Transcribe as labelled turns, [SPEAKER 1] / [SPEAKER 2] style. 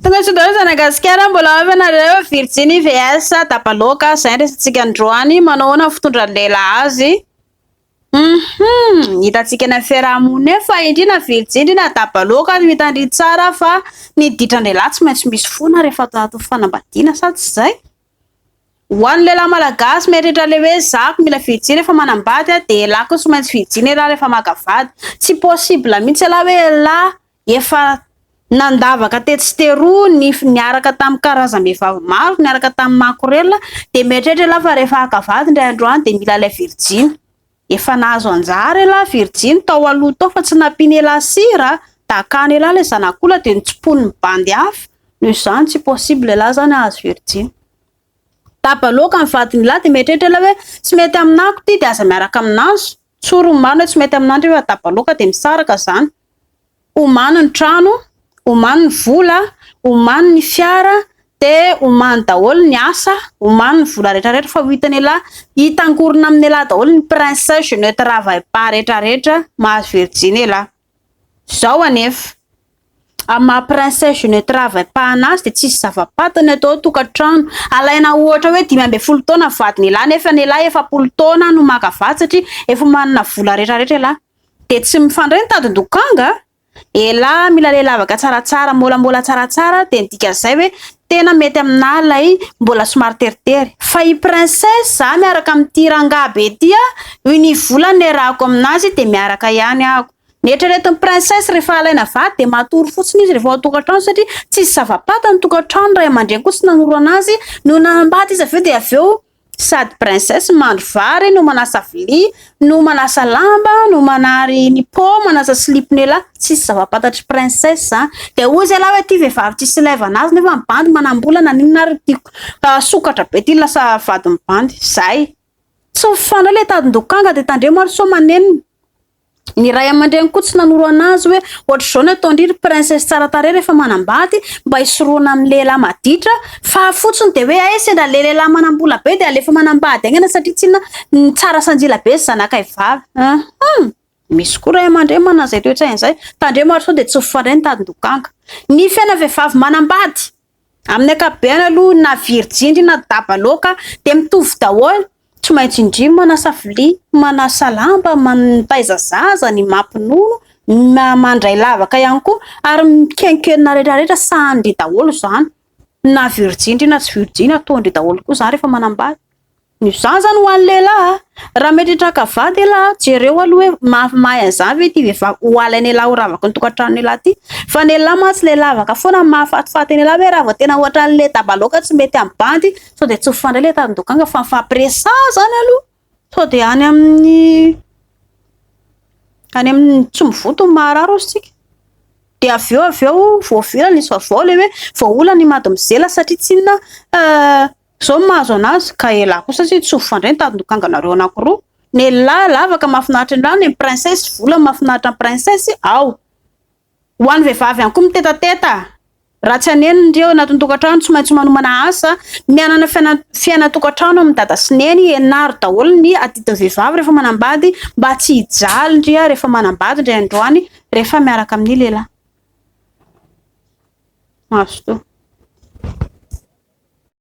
[SPEAKER 1] Tongatr'indray Zanagasikara mbola ao ianareo Virginie VS Dabaloka zay resatsika androany manao ahoana ny fitondran'ny lehilahy azy Hum hitantsika eny amin'ny fiarahamonina eny fa indrina Virginie na Dabaloka no hitandria tsara fa ny ditran-dehilahy tsy maintsy misy foana rehefa atao anatin'ny fanambadiana sa tsy izay? Ho an'ny lehilahy malagasy mieritreritra le hoe za ko mila Virginie rehefa manambady dia elah ko tsy maintsy Virginie elah rehefa maka vady tsy possible mihitsy elah hoe elah efa nandavaka tetsy sy teroa ny niaraka tamin'ny karazam-behivavy maro, niaraka tamin'ny makorelina, dia mieritreritra ialahy fa rehefa haka vady indray andro any dia mila ilay virijiny. Efa nahazo anjara ialahy virijiny tao aloha tao fa tsy nampiany ialahy sira, dakany ialahy ilay zanak'olona dia notsiponin'ny bandy hafa, noho izany tsy possible ialahy izany hahazo virijiny. Daba loaka ny vadin'ialahy dia mieritreritra ialahy hoe tsy mety aminako ity dia aza miaraka aminazy. Tsory ny marina tsy mety aminao nefa dabaloaka dia misaraka izany. Omano ny trano, omano ny vola, omano ny fiara, dia omano daholo ny asa, omano ny vola rehetra rehetra fa ho hitan'i elah, hitangorona amin'i elah daholo ny princes, je ne travaille pas rehetra rehetra, mahazo virjiny elah. Izao anefa, amin'ny maha princesse je ne travaille pas anazy dia tsisy zava-patiny ato an-tokantrano. Alaina ohatra hoe dimy ambin'ny folo taona ny vadin'ialahy nefa ny ialahy efapolo taona no maka vady satria efa manana vola rehetrarehetra ialahy. Dia tsy mifandray ny tadin-dokanga? Elah mila lehilavaka tsaratsara, molamola tsaratsara dia ny dikan'izay hoe Tena mety aminah lay mbola somary teritery. Fa i princesse za miaraka amin'ity rangahy be ty a, noho ny vola niarahako aminazy de miaraka ihany aho. Ny eritreretin'i princesse rehefa alaina vady de matory fotsiny izy rehefa ao an-tokantrano satria tsisy zava-paty ny tokantrano, ny ray aman-dreny koa tsy nanoro anazy no naha mbady izy avy eo de avy eo, Sady princesse mandro vary no manasa vilia no manasa lamba no manary ny pot manasa slip ny elah tsisy zavapatatry princesse a dia hoy zay lah hoe ty vehivavy tsisy ilaivana azy nefa mibandy manambola naninona ary tiako fa sokatra be ty lasa vady mibandy zay tsy mifanao le tadin-dokanga dia tandremo ary sao manenina Ny ray aman-dreny koa tsy nanoro anazy hoe ohatr'izao ny ataon-dry ry princesse tsara tarehy rehefa manambady mba hisorohana amin'ny lehilahy maditra fa fotsiny dia hoe hay sendra le lehilahy manam-bola be dia alefa manambady aingana satria tsinona ny tsara sanjila be sy zanakay vavy hum misy koa ray aman-dreny manana izay toetsaina izay tandremo ary sao dia tsy ho fandray ny tadin-dokanga ny fiainan'ny vehivavy manambady Amin'ny ankapobeny aloha na virjindry na dabaloaka dia mitovy daholo, tsy maintsy indry manasa vilia, manasa lamba, mitaiza zaza, ny mampinono, ny mandray lavaka ihany koa ary mikenkenona retraretra sahanin-dry daholo izany na virjindry na tsy virjiny ataon-dry daholo koa izany rehefa manambady. Izany zany ho an'ny lehilahy a! Raha mety hitraka vady elah a, jereo aloha hoe maha mahay an'izany ve ity vehivavy ho alain'elah ho ravaky ny tokantranon'elah ity? Fa ny lehilahy mantsy le lavaka foana ny mahafatifaty an'elah hoe raha vao tena hoatran'ny le dabaloaka tsy mety amin'ny bandy sao dia tsy mifandray le tandin-dokanga fa mifampiresaha zany aloha sao dia any amin'ny any amin'ny tsy mivoto ny maharary ozy tsika dia avy eo avy eo voavilana izy fa vao le hoe voaolana i madimozela satria tsinona Zao no mahazo anazy ka elah kosa sy tsy ho fandray ny tandindokanganareo anankiroa ny elah lavaka mafinaritra indray ny princesse volany mafinaritra ny princesse ao ho an'ny vehivavy ihany koa mitetateta raha tsy haneno ny reo anatin'ny tokantrano tsy maintsy manomana asa ny hanana fiana fiaina tokantrano amin'ny dada sy neny henaro daholo ny adidin'ny vehivavy rehefa manambady mba tsy hijaly ndry ah rehefa manambady indray androany rehefa miaraka amin'ny lehilahy mazotoa